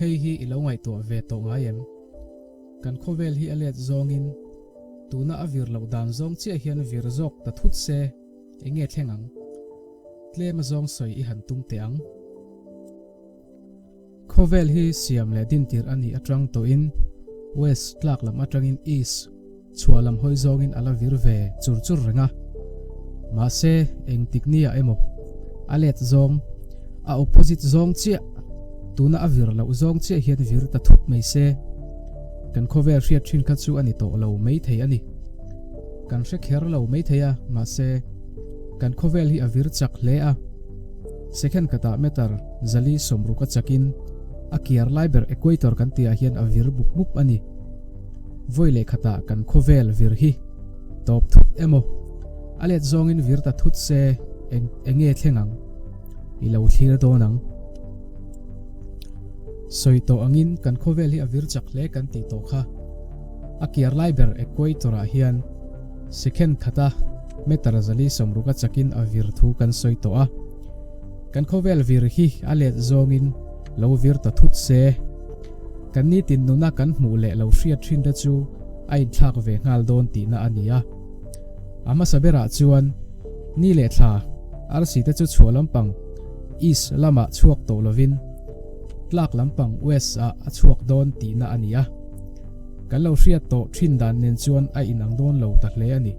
Hei hi i lo ngaihtuah ve tawh ngai em? Kan khawvel hi a let zawngin tuna a vir loh dan zawng chiah hian vir zawk ta thut se, enge thleng ang? Tlema zawng sawi i han tum teh ang. Khawvel hi siam leh dintir a nih atang tawhin west tlak lam atangin east chhuah lam hawi zawngin a la vir ve chur chur reng a. Mahse, eng tiknia emaw a let zawng, a opposite zawng chiah, tuna a vir loh zawng chiah hian vir ta thup mai se. Kan khawvel hriat thin kha chu a ni tawh lo mai thei a ni. Kan hre kher lo mai thei a, mahse, kan khawvel hi a vir chak hle a. Second kata meter zali sawmruk a chakin a kiar lai ber equator kan tihah hian a vir mup mup a ni. Vawi leh khata kan khawvel vir hi tawp thut emaw? A let zawngin vir ta thut se eng enge thleng ang? I lo thlir dawn ang. Sawi tawh angin kan khawvel hi a vir chak hle kan tih tawh kha. A kiar lai ber equator-ah hian. Second khata meter zali sawmruka chakin a vir thu kan sawi tawh a, kan khawvel vir hi a let zawngin lo vir ta thut se. Kan nitin nuna kan hmuh leh lo hriat hrinre chu a inthlak ve nghal dawn tihna a ni a. A hmasa berah chuan ni leh thla arsi te chu chhuah lampang east lamah chhuak tawh lovin tlak lampang west ah a chhuak dawn tihna a ni a. Kan lo hriat tawh thin dan nen chuan a inang dawn lo ta hle a ni.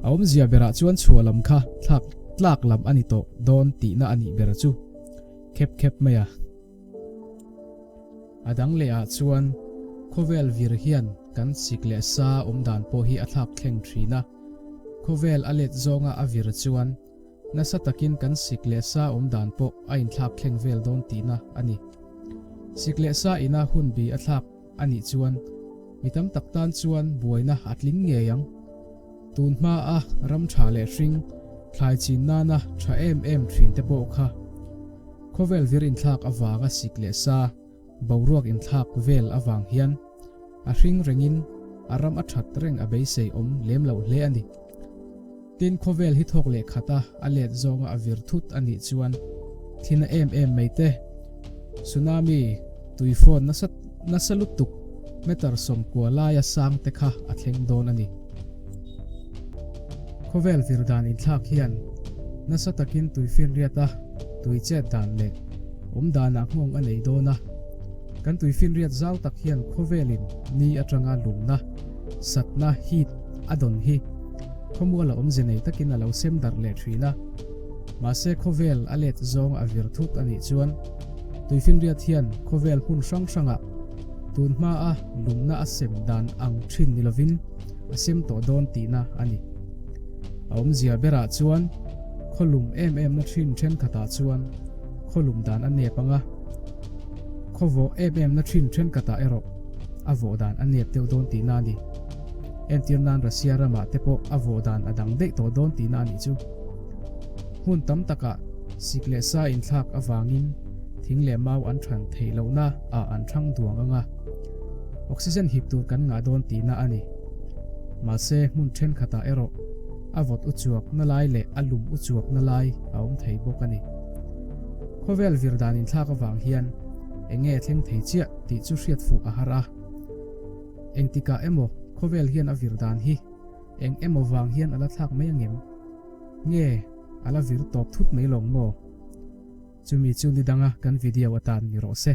A awmzia berah chuan chhuah lam kha thlak tlak lam a ni tawh dawn tihna a nih ber chu khep khep mai a. A dang lehah chuan khawvel vir hian kan sik leh sa awm dan pawh hi a thlak thleng thin a. Khawvel a let zawnga a vir chuan Nasa takin kan sik leh sa awm dan pawh a inthlak thleng vel dawn tihna a ni. Sik leh sa ina hun bi a thlak a nih chuan mi tam tak tan chuan buaina a tling ngei ang. Tun hma a ram tha leh hring thlai chin nana tha em em thin te pawh kha khawvel vir inthlak avanga sik leh sa, Boruak inthlak vel avang hian a hring rengin a ram a that reng a beisei awm lem loh hle a ni. Tin, khawvel hi thawk leh khata a let zawnga a vir thut a nih chuan thin a em em mai te, tsunami, tuifawn nasa nasa lutuk, meter sawm kua laia sang te kha a thleng dawn a ni. Khawvel vir dan inthlak hian nasa takin tui finriat a, tui chet dan leh awm danah nghawng a nei dawn a. Kan tui finriat zau tak hian khawvelin ni atanga lumna, satna, heat, a dawn hi khawmuala awmze nei takin a lo sem darh leh thin a. Mahse khawvel a let zawng a vir thut a nih chuan tui finriat hian khawvel hmun hrang hrangah tunhmaa lumna a sem dan ang thin ni lovin, a sem tawh dawn tihna a ni. A awmzia berah chuan khaw lum em emna ṭhin ṭhenkhatah chuan khaw lum dan a nep anga, khaw vawh em emna ṭhin ṭhenkatah erawh a vawh dan a nep deuh dawn tihna a ni. Entir nan Russia ramah te pawh a vawh dan a dang daih tawh dawn tihna a nih chu. Hmun tam takah sik leh sa inthlak avangin thing leh mau an ṭhan thei lohna ah an ṭhang duang anga. Oxygen hip tur kan ngah dawn tihna a ni. Mahse, hmun thenkhatah erawh a vawt uchuakna lai leh a lum uchuakna lai a awm thei bawk a ni. Khawvel vir dan inthlak avang hian eng nge a thleng thei chiah tih chu hriat fuh a har a. Engtikah emaw khawvel hian a vir dan hi eng emaw vang hian a la thlak mai ang em? Nge a la vir tawp thut mai lawng maw? Chumi chu ni danga kan video atan ni rawh se.